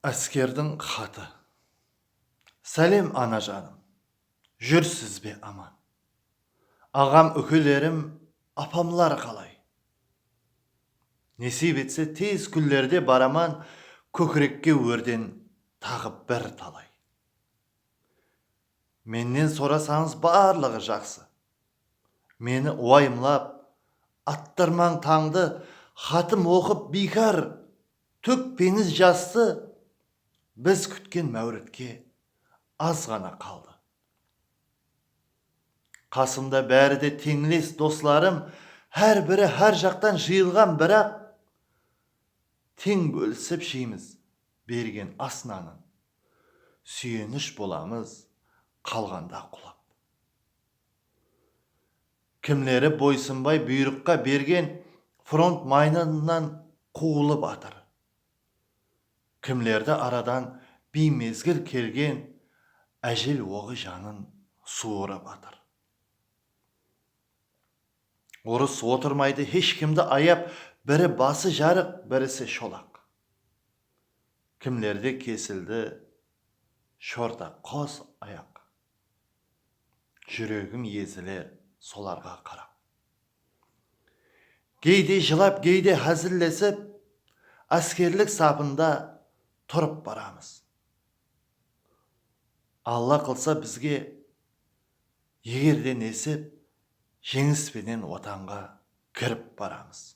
Áskerdiń xatı. Sálem, ana janım! Júrsiz be aman? Aǵam-úkelerim, apamlar qalay? Nesiyp etse, tez kúnlerde baraman kókirekke órden taǵı bir talay. Mennen sorasańız barlıǵı jaqsı, Meni uayımlap attırmań tańdı xatım oqıp biykar tókpeńiz jastı biz kútken máwritke az ǵana qaldı qasımda bári de teńles doslarım hár biri hár jaqtan jıyılǵan biraq teń bólisip jeymiz bergen as nanın súyenish bolamız qalǵanda qulap. Kimleri boysınbay buyrıqqa bergen front maydanınan quwılıp atır. Kimlerdi aradan biymezgil kelgen ájel oǵı janın suwırıp atır. Urıs otırmaydı hesh kimdi ayap biri bası jarıq birisi sholaq. Kimlerde kesildi shorta qos ayaq. Júregim eziler solarǵa qarap. Geyde jılap, geyde házillesip, Áskerlik sapında turıp baramız. Alla qılsa bizge, eger de nesip, Jeńis penen Watanǵa kirip baramız.